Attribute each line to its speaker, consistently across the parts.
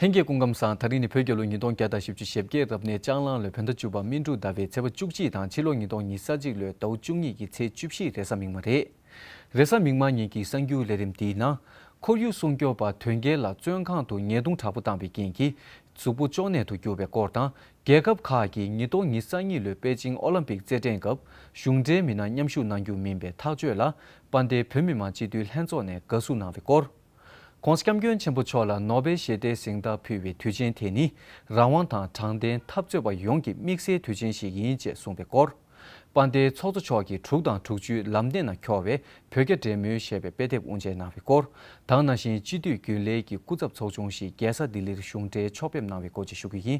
Speaker 1: ལྷན་རྒྱས་སྐུ་ཁམས་བཟང་ད་རིང་ནི་བོད་རྒྱལ་ལོ་ཉིས་སྟོང་བརྒྱ་དང་བཞི་བཅུ་ཞེ་བརྒྱད་རབ་གནས་ལྕགས་གླང་ལོའི་བོད་ཟླ་བཅུ་པ་སྨིན་དྲུག་ཟླ་བའི་ཚེས་པ་བཅུ་གཅིག་དང་ཕྱི་ལོ་ཉིས་སྟོང་ཉིས་ས་གཅིག་ལོའི་ཟླ་བོ་བཅུ་གཉིས་ཀྱི་ཚེས་བཅུ་བཞི་རེས་གཟའ་མིག་མ་རེད། རེས་གཟའ་མིག་མ་གཉིས་ཀྱི་གསར་འགྱུར་ལས་རིམ་འདིའི་ནང། ཁོར་ཡུག་སྲུང་སྐྱོབ་པ་དོལ་རྒྱལ་ལ་བཙོན་ཁང་དུ་ཉེས་རྡུང་དྲག་པོ་བཏང་བའི་རྐྱེན་གྱིས་གཟུགས་པོ་ཅོ་ནད་དུ་གྱུར་བའི་སྐོར་དང་རྒྱལ་ཁབ་ཁག་གིས་ཉིས་སྟོང་ཉིས་ས་གཉིས་ལོའི་པེ་ཅིང་ཨོ་ལམ་པིག་རྩེད་འགྲན་སྐབས་གཞུང་འབྲེལ་མི་སྣ་མཉམ་ཞུགས་གནང་རྒྱུ་མིན་པའི་ཐག་གཅོད་ལ་དཔའ་མཐའི་བོད་མི་མང་སྤྱི་འཐུས་ལྷན་ཚོགས་ནས་དགའ་བསུ་གནང་བའི་སྐོར། ྋགོང་ས ྋསྐྱབས་མགོན་ཆེན་པོ་མཆོག་ལ་ནོ་བེལ་ཞི་བདེའི་གཟེངས་རྟགས་ཕུལ་བའི་དུས་ཆེན་དེ་ནི་རང་དབང་དང་དྲང་བདེན་འཐབ་རྩོད་པ་ཡོངས་ཀྱི་དམིགས་བསལ་དུས་ཆེན་ཞིག་ཡིན་ཅེས་གསུངས་པའི་སྐོར། དཔའ་རྟའི་ཚོགས་གཙོ་མཆོག་གིས་དྲུག་དང་དྲུག་ཅུའི་ལམ་སྟེང་ན་འཁྱོར་བའི་བོད་རྒྱ་འབྲེལ་མོལ་ཞེས་པའི་དཔེ་དེབ་དབུ་འབྱེད་གནང་བའི་སྐོར་དང་ན་གཞིན་སྤྱི་འཐུས་རྒྱུན་ལས་ཀྱི་སྐུ་ཚབ་ཚོགས་ཆུང་ཞིག་རྒྱལ་ས་ལྡི་ལིར་གཞུང་འབྲེལ་ཕྱོགས་ཕེབས་གནང་བའི་སྐོར་བཅས་ཞུ་རྒྱུ་ཡིན་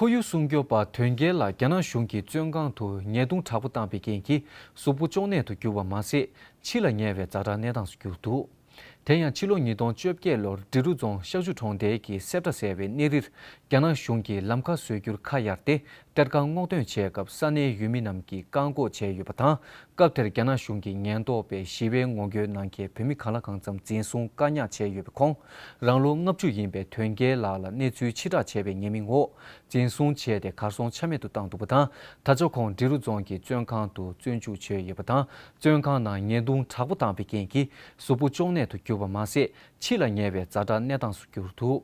Speaker 1: ཁོར་ཡུག་སྲུང་སྐྱོབ་པ་དོན་རྒྱལ་ལ་རྒྱ་ནག་གཞུང་གིས་བཙོན་ཁང་དུ་ཉེས་རྡུང་དྲག་པོ་བཏང་པའི་རྐྱེན་གྱིས་གཟུགས་པོ་གཅོང་ནད་དུ་གྱུར་བ་མ་ཟད་འཆི་ལ་ཉེ་བའི་རྫ་དྲག་གནས་སྟངས་སུ་གྱུར་འདུག་དེ་ཡང་ཕྱི་ལོ་ཉིས་སྟོང་བཅོ་བརྒྱད་ལོར་འབྲི་རུ་རྫོང་ཤག་ཆུ་གྲོང་རྡལ་གྱི་སེབ་ཏྲ་ཟེར་བའི་གནས་རིར་རྒྱ་ནག་གཞུང་གིས་ལམ་ཁ་བཟོས་རྒྱུར་ཁ་གཡར་ཏེ་སྐྲ་དཀར་སྔོག་འདོན་བྱས་སྐབས་ས་གནས་ཡུལ་མི་རྣམས་ཀྱིས་བཀག་འགོག་བྱས་ཡོད་པ་དང་སྐབས་དེར་རྒྱ་ནག་གཞུང་གི་ཉེན་རྟོག་པས་ཞི་བའི་ངོ་རྒོལ་གནང་མཁན་བོད་མི་གང་ལ་གང་ཙམ་འཛིན་བཟུང་བཀག་ཉར་བྱས་ཡོད་པའི་ཁོངས། རང་ལོ་ལྔ་བཅུ་ཡིན་པའི་དོན་རྒྱལ་ལགས་ལ་གནས་ཚུལ་ཕྱིར་བསྒྲགས་བྱས་པའི་ཉེས་མིང་འོག་འཛིན་བཟུང་བྱས་ཏེ་གར་སོང་ཆ་མེད་དུ་བཏང་འདུག་པ་དང་ད་ཆ་ཁོང་འབྲི་རུ་རྫོང་གི་བཙོན་ཁང་དུ་བཙོན་འཇུག་བྱས་ཡོད་པ་དང་བཙོན་ཁང་ནང་ཉེས་རྡུང་དྲག་པོ་བཏང་བའི་རྐྱེན་གྱིས་གཟུགས་པོ་གཅོང་ནད་དུ་གྱུར་པ་མ་ཟད་འཆི་ལ་ཉེ་བའི་རྫ་དྲག་གནས་སྟངས་སུ་གྱུར་འདུག་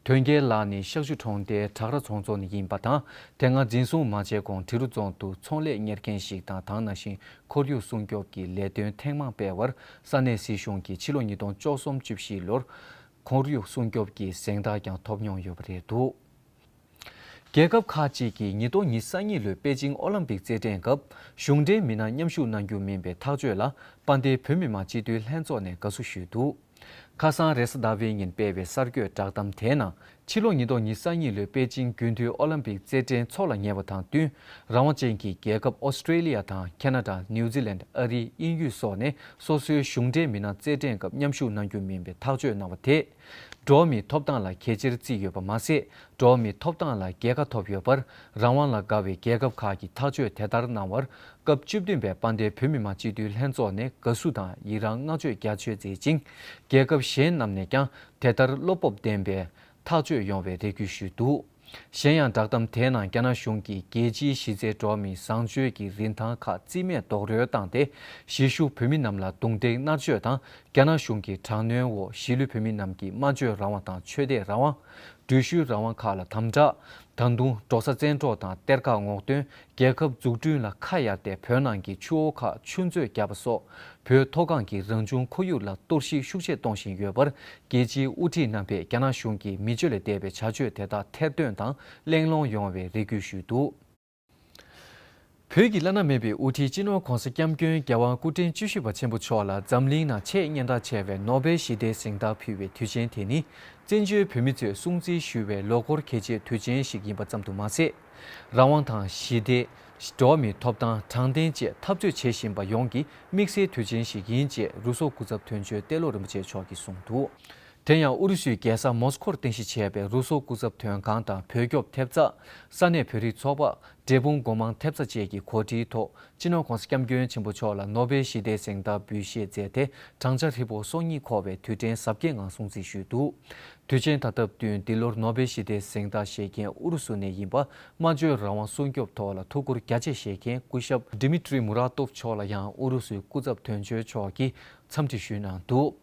Speaker 1: དོན་རྒྱལ་ལགས་ནི་ཤག་ཆུ་གྲོང་རྡལ་བྲག་ར་ཚོང་ཚོགས་ནས་ཡིན་པ་དང་དེ་སྔ་འཛིན་བཟུང་མ་བྱས་གོང་འབྲི་རུ་རྫོང་དུ་ཚོང་ལས་གཉེར་མཁན་ཞིག་དང་དང་ནང་བཞིན་ཁོར་ཡུག་སྲུང་སྐྱོབ་ཀྱི་ལས་དོན་ཐེངས་མང་སྤེལ་བར་ས་གནས་སྲིད་གཞུང་གིས་ཕྱི་ལོ་ཉིས་སྟོང་བཅུ་གསུམ་བཅུ་བཞི་ལོར་ཁོར་ཡུག་སྲུང་སྐྱོབ་ཀྱི་གཟེངས་རྟགས་ཀྱང་ཐོབ་མྱོང་ཡོད་པ་རེད་འདུག་རྒྱལ་ཁབ་ཁག་ཅིག་གིས་ཉིས་སྟོང་ཉི་ས་གཉིས་ལོའི་པེ་ཅིང་ཨོ་ལམ་པིག་རྩེད་འགྲན་སྐབས་གཞུང་འབྲེལ་མི་སྣ་མཉམ་ཞུགས་གནང་རྒྱུ་མིན་པའི་ཐག་གཅོད་ལ་དཔའ་མཐའི་བོད་མི་མང་སྤྱི་འཐུས་ལྷན་ཚོགས་ནས་དགའ་བསུ་ཞུས་འདུག། ཁ་སང་རེས་གཟའ་ཟླ་བའི་ཉིན་སྤེལ་བའི་གསར་འགོད་བསྒྲགས་གཏམ་དེའི་ནང་ཕྱི་ལོ་ཉིས་སྟོང་ཉིས་གསར་གཉིས་ལོའི་པེ་ཅིང་རྒྱུན་མཐུད་ཨོ་ལམ་པིག་རྩེད་འགྲན་འཚོག་ལ་ཉེ་བ་དང་བསྟུན་རང་དབང་ཅན་གྱི་རྒྱལ་ཁབ་ཨོ་སི་ཀྲེ་ལི་ཡ་དང་ཁེ་ན་ཏྲ་ནིའུ་ཛི་ལན་ཨ་རི་དབྱིན་ཡུལ་སོགས་ནས་སོ་སོའི་གཞུང་འབྲེལ་མི་སྣ་རྩེད་འགྲན་སྐབས་མཉམ་ཞུགས་གནང་རྒྱུ་མིན་པའི་ཐག་གཅོད་གནང་བ་དེས་འགྲོ་བ་མིའི་ཐོབ་ཐང་ལ་གལ་ཆེར་བརྩིས་ཡོད་པ་མ་ཟད་འགྲོ་མིའི་ཐོབ་ཐང་ལ་རྒྱལ་ཁ་ཐོབ་ཡོད་པར་རང་དབང་ལ་དགའ་བའི་རྒྱལ་ཁབ་ཁག་གིས་ཐག་གཅོད་དེ་ལྟར་གནང་བར་སྐབས་བཅུ་བདུན་པའི་པཱ་ཏའི་བོད་མི་མང་སྤྱི་འཐུས་ལྷན་ཚོགས་ནས་དགའ་བསུ་དང་ཡི་རང་བསྔགས་བརྗོད་རྒྱ་ཆེར་མཛད་ཅིང་རྒྱལ་ཁབ་གཞན་རྣམས་ནས་ཀྱང་དེ་ལྟར་བློ་སྤོབས་ལྡན་པས་ཐག་གཅོད་ཡོང་བའི་རེ་སྐུལ་ཞུས་འདུག་གཞན་ཡང་བསྒྲགས་གཏམ་དེའི་ནང་རྒྱ་ནག་གཞུང་གིས་རྒྱལ་སྤྱིའི་གཞི་རྩའི་འགྲོ་མིའི་བཟང་སྤྱོད་ཀྱི་རིན་ཐང་ཁག་རྩིས་མེད་རྡོག་རོལ་བཏང་སྟེ་གཞིས་བཞུགས་བོད་མི་རྣམས་ལ་རྡུང་རྡེག་མནར་གཅོད་དང་རྒྱ་ནག་གཞུང་གི་དྲག་གནོན་འོག་གཞིས་ལུས་བོད་མི་རྣམས་ཀྱི་སྨྲ་བརྗོད་རང་དབང་དང་ཆོས་དད་རང་དབང། འགྲུལ་བཞུད་རང་དབང་ཁག་ལ་དམ་བསྒྲགས། ད་དུང་འབྲོག་ས་བཙན་འཕྲོག་དང་གཏེར་ཁ་སྔོག་འདོན་རྒྱལ་ཁབ་འཛུགས་སྐྲུན་ལ་ཁ་གཡར་ཏེ་བོད་ནང་གི་ཆུ་བོ་ཁག་ཆུ་མཛོད་བརྒྱབ་པ་སོགས་བོད་མཐོ་སྒང་གི་རང་བྱུང་ཁོར་ཡུག་ལ་གཏོར་བཤིག་ཤུགས་ཆེ་གཏོང་བཞིན་ཡོད་པར་རྒྱལ་སྤྱིའི་དབུ་ཁྲིད་རྣམ་པས་རྒྱ་ནག་གཞུང་གི་མི་སྤྱོད་ལས་འདས་པའི་བྱ་སྤྱོད་དེ་དག་ཐེར་འདོན་དང་གླེང་སློང་ཡོང་བའི་རེ་སྐུལ་ཞུས་འདུག། བོད་ཀྱི་བླ་ན་མེད་པའི་དབུ་ཁྲིད་སྤྱི་ནོར ྋགོང་ས ྋསྐྱབས་མགོན་རྒྱལ་དབང་སྐུ་ཕྲེང་བཅུ་བཞི་པ་ཆེན་པོ་མཆོག་ལ་འཛམ་གླིང་ནང་ཆེས་སྙན་གྲགས་ཆེ་བའི་ནོ་སྦེལ་ཞི་བདེའི་གཟེངས་རྟགས་ཕུལ་བའི་དུས་ཆེན་དེ་ནི་བཙན་བྱོལ་བོད་མི་ཚོས་སྲུང་བརྩི་ཞུ་བའི་ལོ་འཁོར་གལ་ཆེའི་དུས་ཆེན་ཞིག་ཡིན་པ་ཙམ་དུ་མ་ཟད། རང་དབང་དང་ཞི་བདེ། འགྲོ་བ་མིའི་ཐོབ་ཐང་དྲང་བདེན་བཅས་འཐབ་རྩོད་བྱེད་བཞིན་པ་ཡོངས་ཀྱི་དམིགས་བསལ་དུས་ཆེན་ཞིག་ཡིན་ཅེས་རུ་སོག་སྐུ་ཚབ་དོན་གཅོད་ཏེ་ལོ་རིན་པོ་ཆེ་མཆོག་གིས་གསུངས་འདུག། དེ་ཡང་ཨུ་རུ་སུའི་རྒྱལ་ས་མོས་ཀོར་རྟེན་གཞི་བྱས་པའི་རུ་སོག་སྐུ་ཚབ་དོན་ཁང་དང་བོད་སྐྱོབ་ཐེབས་རྩ། ས་གནས་བོད་རིགས་ཚོགས་པ། འབྲས་སྤུངས་སྒོ་མང་ཐེབས་རྩ་བཅས་ཀྱི་གོ་སྒྲིག་ཐོག་སྤྱི་ནོར ྋགོང་ས ྋསྐྱབས་མགོན་ཆེན་པོ་མཆོག་ལ་ནོ་བེལ་ཞི་བདེའི་གཟེངས་རྟགས་འབུལ་བཞེས་མཛད་དེ་བགྲང་བྱ་ཧྲིལ་བོ་སོ་གཉིས་འཁོར་བའི་དུས་དྲན་གཟབ་རྒྱས་ངང་སྲུང་བརྩི་ཞུས་འདུག་དུས་ཆེན་ད་སྟབས་བསྟུན་འདི་ལོར་ནོ་བེལ་ཞི་བདེའི་གཟེངས་རྟགས་བཞེས་མཁན་ཨུ་རུ་སུ་ནས་ཡིན་པ་སྨྲ་བརྗོད་རང་དབང་སྲུང་སྐྱོབ་ཐོག་ལ་ཐུགས་ཁུར་རྒྱ་ཆེ་བཞེས་མཁན་སྐུ་ཞབས Dmitry Muratov མཆོག་ལ་ཡང་ཨུ་རུ་སུའི་སྐུ་ཚབ་དོན་གཅོད་མཆོག་གིས་འཚམས་འདྲི་ཞུས་གནང་འདུག་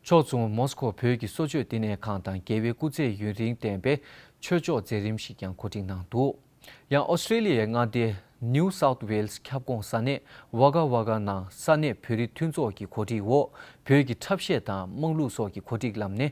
Speaker 1: ཕྱོགས་མཚུངས་མོ་སི་ཁོ་བོད་ཀྱི་གསོལ་མཆོད་བསྟི་གནས་ཁང་དང་རྒྱལ་བའི་སྐུ་ཚེ་ཡུན་རིང་བརྟན་པའི་ཆོས་ཕྱོགས་མཛད་རིམ་ཞིག་ཀྱང་གོ་སྒྲིག་གནང་འདུག་ཡང་ཨོ་སི་ཁྲེ་ལི་ཡའི་མངའ་སྡེ New South Wales ཁྱབ་ཁོངས་ས་གནས Wagga Wagga ནང་ས་གནས་བོད་རིགས་མཐུན་ཚོགས་ཀྱི་གོ་སྒྲིག་འོག་བོད་ཀྱི་འཁྲབ་གཞས་དང་དམངས་གླུ་སོགས་ཀྱི་གོ་སྒྲིག་ལམ་ནས་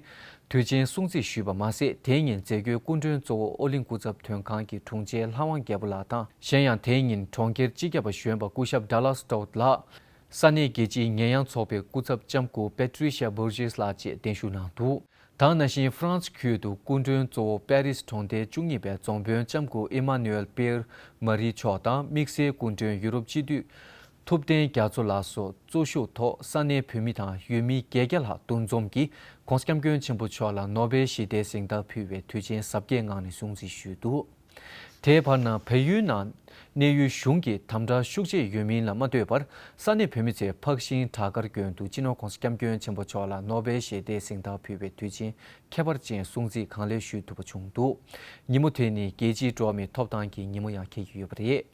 Speaker 1: དུས་ཆེན་སྲུང་བརྩི་ཞུས་པ་མ་ཟད་དེ་ཉིན་མཛད་སྒོའི་སྐུ་མགྲོན་གཙོ་བོ་ཨོ་གླིང་སྐུ་ཚབ་དོན་ཁང་གི་དྲུང་ཆེ་ལྷ་དབང་རྒྱལ་པོ་ལགས་དང། གཞན་ཡང་དེ་ཉིན་གྲོང་ཁྱེར་སྤྱི་ཁྱབ་པ་གཞོན་པ་སྐུ་ཞབས Dallas Stout ལགས། ས་གནས་རྒྱལ་སྤྱིའི་ཉེས་ཡངས་ཚོགས་པའི་སྐུ་ཚབ་ལྕམ་སྐུ Patricia Burgess ལགས་བཅས་གདན་ཞུ་གནང་འདུག་དང་ན་བཞིན་ཧྥ་རན་སི་ཁུལ་དུ་སྐུ་མགྲོན་གཙོ་བོ་དཔལ་རིས་གྲོང་སྡེའི་བཅུ་གཉིས་པའི་རྫོང་དཔོན་ལྕམ་སྐུ Emmanuel Pierre Marie མཆོག་དང་དམིགས་བསལ་སྐུ་མགྲོན་ཡུ་རོབ་སྤྱི་འཐུས་ཐུབ་བསྟན་རྒྱ་མཚོ་ལགས་སོགས་གཙོ་ཞུགས་ཐོག་ས་གནས་བོད་མི་དང་ཡུལ་མི་བརྒྱད་བརྒྱ་ལྷག་འདུ་འཛོམས་ཀྱིས ྋགོང་ས ྋསྐྱབས་མགོན་ཆེན་པོ་མཆོག་ལ་ནོ་སྦེལ་ཞི་བདེའི་གཟེངས་རྟགས་ཕུལ་བའི་དུས་ཆེན་གཟབ་རྒྱས་ངང་ནས་སྲུང་བརྩི་ཞུས་འདུག། དེའི་བར་ན་བལ་ཡུལ་ནང་གནས་ཡུལ་གཞུང་གིས་དམ་དྲག་ཤུགས་ཆེ་ཡོད་མིན་ལ་མ་ལྟོས་པར་ས་གནས་བོད་མི་ཚོས་ཕག་ཤིང་བྲག་དཀར་གྱོན་འདུག་སྤྱི་ནོར ྋགོང་ས་སྐྱབས་མགོན་ཆེན་པོ་མཆོག་ལ་ནོ་བེལ་ཞི་བདེའི་གཟེངས་རྟགས་ཕུལ་བའི་དུས་ཆེན་ཁྱད་པར་ཅན་སྲུང་བརྩི་གང་ལེགས་ཞུས་ཐུབ་པ་བྱུང་འདུག་ཉིན་མོ་དེ་ནི་རྒྱལ་སྤྱིའི་འགྲོ་བ་མིའི་ཐོབ་ཐང་གི་ཉིན་མོ་ཡང་ཁེལ་གྱི་ཡོད་པ་རེད།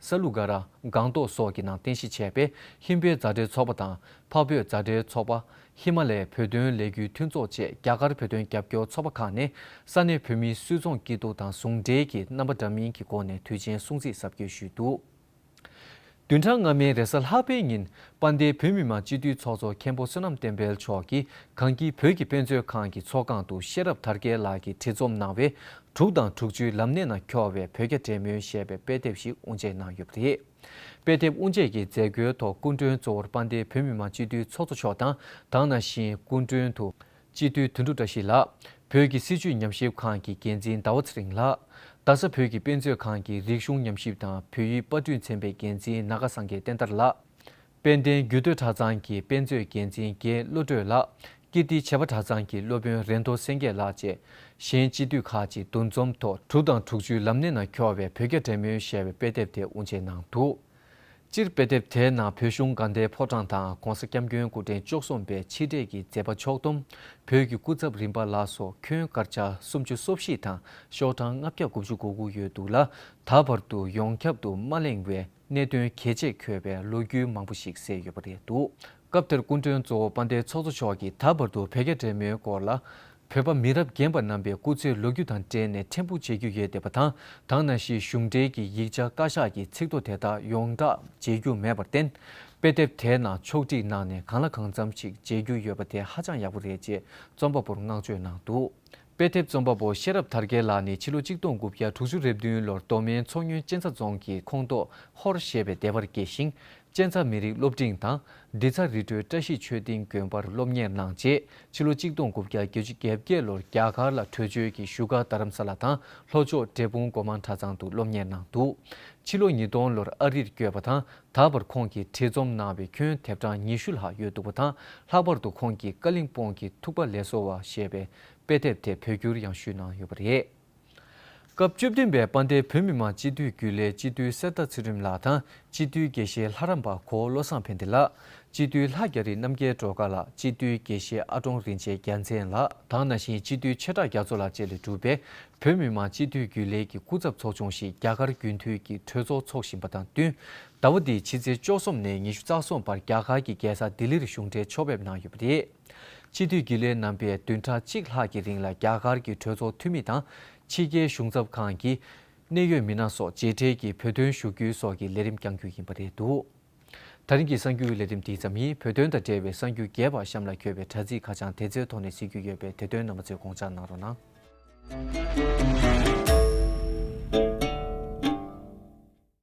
Speaker 1: ས་ལུ་ག་ར་སྒང་ཏོག་སོགས་ཀྱི་ནང་རྟེན་གཞི་བྱས་པའི་ཧིན་བོད་མཛའ་འབྲེལ་ཚོགས་པ་དང་འཕགས་བོད་མཛའ་འབྲེལ་ཚོགས་པ། ཧི་མ་ལའི་བོད་དོན་ལས་འགུལ་མཐུན་ཚོགས་བཅས་རྒྱ་གར་བོད་དོན་རྒྱབ་སྐྱོར་ཚོགས་པ་ཁག་ནས་ས་གནས་བོད་མིའི་སུད་ཚོང་སྐྱིད་སྡུག་དང་ཟུང་འབྲེལ་གྱི་རྣམ་པ་འདྲ་མིན་གྱི་སྒོ་ནས་དུས་ཆེན་སྲུང་བརྩི་ཟབ་རྒྱས་ཞུས་འདུག་བདུན་ཕྲག་སྔ་མའི་རེས་གཟའ་ལྷག་པའི་ཉིན་པ་འདི་བོད་མི་མང་སྤྱི་འཐུས་ཚོགས་གཙོ་མཁན་པོ་བསོད་ནམས་བསྟན་འཕེལ་མཆོག་གིས་གངས་སྐྱིད་བོད་ཀྱི་དཔེ་མཛོད་ཁང་གི་ཚོགས་ཁང་དུ་ཤེས་རབ་དར་རྒྱས་ལགས་ཀྱིས་བྲིས་རྩོམ་གནང་བའི་དྲུག་དང་དྲུག་ཅུའི་ལམ་སྣེ་ན་འཁྱོར་བའི་བོད་རྒྱ་འབྲེལ་མོལ་ཞེས་པའི་དཔེ་དེབ་ཞིག་དབུ་འབྱེད་གནང་ཡོད་པ་རེད། དཔེ་དེབ་དབུ་འབྱེད་ཀྱི་མཛད་སྒོའི་ཐོག་སྐུ་མགྲོན་གཙོ་བོར་དཔལ་ལྡན་བོད་མི་མང་སྤྱི་འཐུས་ཚོགས་གཙོ་མཆོག་དང་དང་ན་གཞིན་སྐུ་མགྲོན་དུ། སྤྱི་འཐུས་དོན་གྲུབ་བཀྲ་ཤིས་ལགས། བོད་ཀྱི་སྲིད་བྱུས་ཉམས་ཞིབ་ཁང་གི་འགན་འཛིན་ཟླ་བ་ཚེ་རིང་ལགས། རྡ་ས་བོད་ཀྱི་དཔེ་མཛོད་ཁང་གི་རིག་གཞུང་ཉམས་ཞིབ་དང་བོད་ཡིག་དཔར་སྐྲུན་ཚན་པའི་འགན་འཛིན་ནཱ་ག་སངས་རྒྱས་བསྟན་དར་ལགས། དཔལ་ལྡན་རྒྱུད་སྟོད་གྲྭ་ཚང་གི་དཔེ་མཛོད་འགན་འཛིན་རྒན་བློ་གྲོས་ལགས་ཀིརྟི་བྱེས་པ་གྲྭ་ཚང་གི་སློབ་དཔོན་རེ་མདོ་སེང་གེ་ལགས་བཅས་གཞན་སྤྱི་འཐུས་ཁག་ཅིག་འདུ་འཛོམས་ཐོག་དྲུག་དང་དྲུག་ཅུའི་ལམ་སྣེ་ན་འཁྱོར་བའི་བོད་རྒྱ་འབྲེལ་མོལ་ཞེས་པའི་དཔེ་དེབ་དེ་དབུ་འབྱེད་གནང་འདུག་སྤྱིར་དཔེ་དེབ་དེའི་ནང་བོད་གཞུང་དགའ་ལྡན་ཕོ་བྲང་དང ྋགོང་ས ྋསྐྱབས་མགོན་སྐུ་ཕྲེང་བཅུ་གསུམ་པའི་ཕྱི་འབྲེལ་གྱི་མཛད་པ་མཆོག་བསྡོམས་བོད་ཀྱི་སྐུ་ཚབ་རིམ་པ་ལ་སོགས་ཁྱོན་སྒར་ཆ་སུམ་ཅུ་སོ་བཞི་དང་ཤོག་གྲངས་ལྔ་བརྒྱ་དགུ་བཅུ་གོ་དགུ་ཡོད་འདུག་ལ་ད་བར་དུ་ཡོངས་ཁྱབ་ཏུ་མ་གླེང་བའི། གནད་དོན་གལ་ཆེ་འཁྱོལ་བའི་ལོ་རྒྱུས་མང་པོ་ཞིག་གསལ་ཡོད་པ་རེད་འདུག་སྐབས་དེར་སྐུ་མགྲོན་གཙོ་བོ་དཔལ་ལྡན་ཚོགས་གཙོ་མཆོག་གིས་ད་བར་དུ་བོད་རྒྱ་འབྲེལ་མོལ་སྐོར་ལ། བོད་པ་མི་རབས་རྒན་པ་རྣམ་པའི་སྐུ་ཚེའི་ལོ་རྒྱུས་དང་འབྲེལ་ནས་ཕྲན་བུ་མཇལ་རྒྱུ་ཡོད་འདས་པ་དང་དང་ན་གཞིས་གཞུང་འབྲེལ་གྱི་ཡིག་ཆ་བཀའ་ཤག་གི་ཚིག་ཐོ་དེ་དག་ཡོངས་གྲགས་མཇལ་རྒྱུ་མེད་པར་བརྟེན། དཔེ་དེབ་དེའི་ནང་ཕྱོགས་བསྒྲིགས་གནང་ནས་གང་ལ་གང་འཚམ་ཞིག་མཇལ་རྒྱུ་ཡོད་པ་དེ་ཧ་ཅང་ཡག་པོ་རེད་ཅེས་རྩོམ་པ་པོར་བསྔགས་བརྗོད་གནང་འདུག། དཔེ་དེབ་རྩོམ་པ་པོ་ཤེས་རབ་དར་རྒྱས་ལགས་ནི་ཕྱི་ལོ་གཅིག་སྟོང་དགུ་བརྒྱ་དྲུག་ཅུ་རེ་བདུན་ལོར་མདོ་སྨད་མཚོ་སྨྱོན་གཅན་ཚ་རྫོང་གི་ཁོངས་གཏོགས་ཧོར་ཞེས་པའི་སྡེ་བར་སྐྱེས་ཤིང། གཅན་ཚ་མི་རིགས་སློབ་འབྲིང་དང་སྡེ་ཚ་རི་ཁྲོད་བཀྲ་ཤིས་ཆོས་སྡིངས་དགོན་པར་སློབ་གཉེར་གནང་རྗེས་ཕྱི་ལོ་གཅིག་སྟོང་དགུ་བརྒྱ་བརྒྱད་ཅུ་གྱ་བརྒྱད་ལོར་རྒྱ་གར་ལ་བྲོས་བྱོལ་གྱིས་བཞུགས་སྒར་རྡ་རམ་ས་ལ་དང་ལྷོ་ཕྱོགས་འབྲས་སྤུངས་སྒོ་མང་གྲྭ་ཚང་དུ་སློབ་གཉེར་གནང་འདུག་ཕྱི་ལོ་ཉིས་སྟོང་ལོར་ཨ་རིར་བསྐྱོད་པ་དང་ད་བར་ཁོང་གིས་བྲིས་རྩོམ་གནང་བའི་ཁྱོན་དེབ་གྲངས་ཉི་ཤུ་ལྷག་ཡོད་འདུག་པ་དང་ལྷག་པར་དུ་ཁོང་གིས་ཀ་གླིང་སྤོང་གི་ཐུག་པ་ལས་གསོ་བ་ཞེས་པའི་དཔེ་དེབ་དེ་བོད་བསྒྱུར་ཡང་ཞུས་གནང་ཡོད་པ་རེད། སྐབས་བཅུ་བདུན་པའི་དཔའ་མཐའི་བོད་མི་མང་སྤྱི་འཐུས་རྒྱུན་ལས་སྤྱི་འཐུས་གསེར་རྟ་ཚེ་རིང་ལགས་དང་སྤྱི་འཐུས་དགེ་བཤེས་ལྷ་རམས་པ་གོ་བློ་བཟང་ཕན་བདེ་ལགས། སྤྱི་འཐུས་ལྷ་རྒྱ་རི་རྣམ་རྒྱལ་སྒྲོལ་དཀར་ལགས་སྤྱི་འཐུས་དགེ་བཤེས་ཨ་ཀྲོང་རིན་ཆེན་རྒྱལ་མཚན་ལགས་དང་ན་གཞིན་སྤྱི་འཐུས་ཆེ་བྲག་རྒྱ་མཚོ་ལགས་བཅས་ལས་གྲུབ་པའི་བོད་མི་མང་སྤྱི་འཐུས་རྒྱུན་ལས་ཀྱི་སྐུ་ཚབ་ཚོགས་ཆུང་ཞིག་རྒྱ་གར་རྒྱུན་མཐུད་ཀྱི་གྲོས་ཚོགས་འཚོགས་བཞིན་པ་དང་བསྟུན། ཟླ་བ་འདིའི་ཕྱི་ཚེས་བཅུ་གསུམ་ནས་ཉི་ཤུ་རྩ་གསུམ་བར་རྒྱ་གར་གྱི་རྒྱལ་ས་ལྡི་ལིར་གཞུང་འབྲེལ་ཕྱོགས་ཕེབས་གནང་ཡོད་པ་རེད། སྤྱི་འཐུས་རྒྱུན་ལས་རྣམ་པས་བདུན་ཕྲག་གཅིག་ལྷག་གི་རིང་ལ་རྒྱ་གར་གྱི་གྲོས་ཚོགས་འཐུས་མི་དང་ཕྱི་རྒྱལ་གཞུང་ཚབ་ཁང་གི་གནད་ཡོད་མི་སྣ་སོགས་མཇལ་འཕྲད་ཀྱིས་བོད་དོན་ཞུ་རྒྱུའི་སོགས་ཀྱི་ལས་རིམ་བསྐྱང་རྒྱུ་ཡིན་པ་རེད་འདུག། ད་རིང་གི་གསར་འགྱུར་ལས་རིམ་འདི་ཙམ་ཡིན་བོད་དོན་དང་འབྲེལ་བའི་གསར་འགྱུར་རྒྱས་པ་གཤམ་ལ་འཁྱོལ་བའི་དྲ་ཚིགས་ཁ་བྱང་དེ་ཚོའི་ཐོག་ནས་གཟིགས་རྒྱུ་ཡོད་པས་དེ་དོན་རྣམ་པ་ཚོས་དགོངས་འཇགས་གནང་རོགས་གནང།